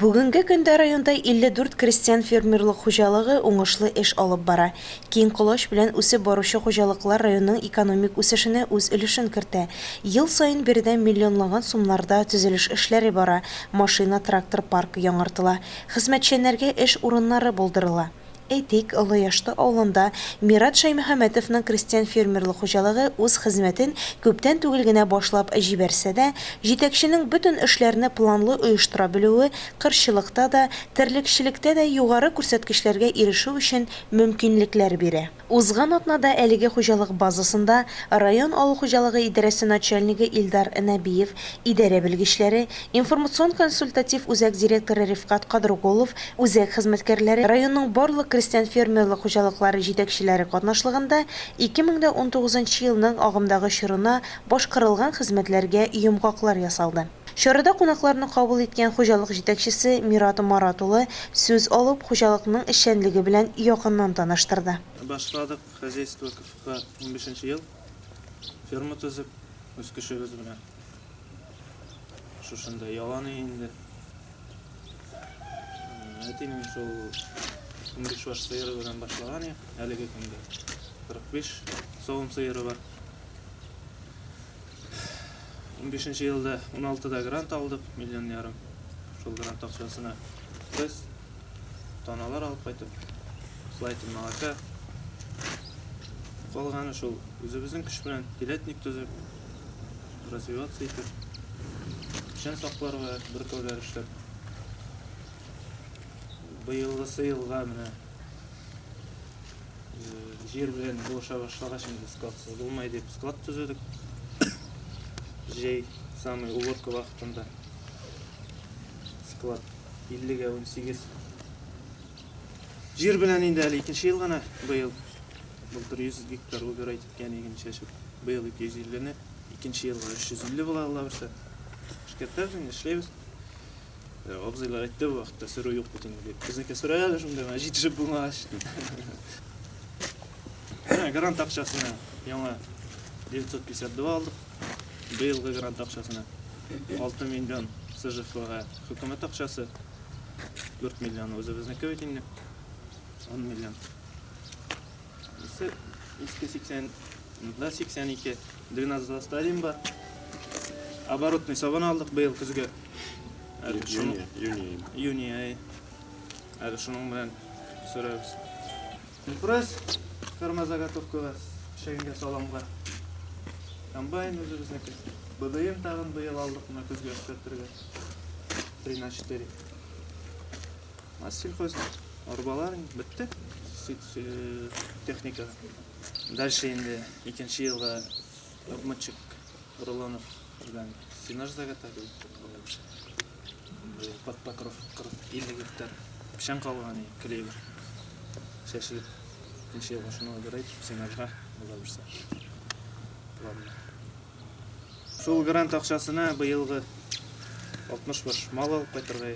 Бүгенге көндә районда 54 крестьян-фермерлык хуҗалыгы уңышлы эш алып бара. Киң колач белән үсеп баручы хуҗалыклар районның экономик үсешенә үз өлешен кертә. Ел саен биредә миллионлаган сумнарда төзелеш эшләре бара, машина-трактор паркы яңартыла, хезмәтчәннәргә эш урыннары булдырыла. Әйтик, Олы Яшты авылында Мират Шәймөхәмәтовның крестьян-фермерлык хуҗалыгы үз хезмәтен күптән түгел генә башлап җибәрсә дә, җитәкченең бөтен эшләрне планлы оештыра белүе кырчылыкта да, терлекчелектә дә югары күрсәткечләргә ирешү өчен мөмкинлекләр бирә. Узган атнада әлеге хуҗалык базасында район авыл хуҗалыгы идарәсе начальнигы Илдар Нәбиев, идарә белгечләре, Информацион-консультатив үзәк директоры Рифкать Кадргулов үзәк хезмәткәрләре, районның барлык крестьян-фермерлык хуҗалыклары җитәкчеләре катнашлыгында 2019 нчы елның агымдагы чорына башкарылган хезмәтләргә йомгаклар ясалды. Чарада кунакларны кабул иткән хуҗалык җитәкчесе Мират Марат улы сүз алып, хуҗалыкның эшчәнлеге белән якыннан таныштырды. Башладык хозяйство КФК унбишенче ел, ферма төзеп, үз көчебез белән. Шушында яланы инде. Әтинең шул 15 баш сыйыры белән башлаган я, әлеге көндә 45 савым сыйыры бар. 15 елда 16 да грант алдык, миллион ярым. Шул грант акчасына без таналар алып кайтып, слайтын молока. Калганы шул үзебезнең көч белән телятник төзеп, развиваться итеп, печән сакларга бөркәүләр эшләп. Быелгысы елга менә җир белән булыша башлагач инде складсыз булмай дип склад төзедек. Җәй самый уборка вакытында склад 50-гә 18. Җир белән инде әле икенче ел гына быел. Былтыр 100 гектар убирать. Кәнеген чәчеп, быел 250 не, икенче елга 350 була алла берсе. Шкертерс инде эшләйбез. Э, абзыйлар әйтте бу вакытта сөрү юк бит инде дип. Безнеке сөрә әле шунда гына җитешеп булмагач. Грант акчасына яңа 952 алдык. Быелгы грант акчасына 6 миллион СЖФга хөкүмәт акчасы 4 миллион үзебезнеке бит инде. 10 миллион. Исе иске 80, да 82, дренажда стадиум бар. Оборотный сабан алдык быел көзгә. Әле шуны юни. Юни ай. Әле шуның белән сөрәбез. Пресс ферма заготовкага, шәйгә саламга. Комбайн үзебезнеке. БДМ тагын быел алдык, мына көзгә эшкәртергә. 3 на 4. Сельхоз арбалар бетте техника. Дальше инде икенче елда обмычек рулонов белән сенаж заготовил. Под покров 40-50 гектар печән калган клевер. Чәчелеп икенче елга шуны берәй сенажга була бирсә. Планны. Шул грант акчасына быелгы 60 баш мал алып кайтырга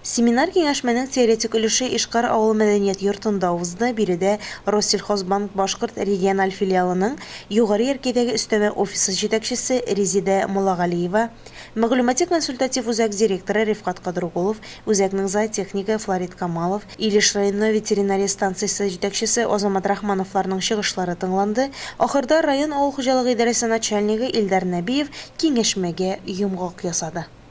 Семинар-киңәшмәнең теоретик өлеше Ишкар авылы мәдәният йортында узды, биредә Россельхозбанк башкорт региональ филиалының Югары Яркәйдәге өстәмә офисы җитәкчесе Резидә Молагалиева, мәгълүмати-консультатив үзәк директоры Рифкать Кадрукулов, үзәкнең зоотехнигы Флорид Камалов, Илеш районы ветеринария станциясе җитәкчесе Азамат Рахмановларның чыгышлары тыңланды, ахырда район авыл хуҗалыгы идарәсе начальнигы Илдар Нәбиев киңәшмәгә йомгак ясады.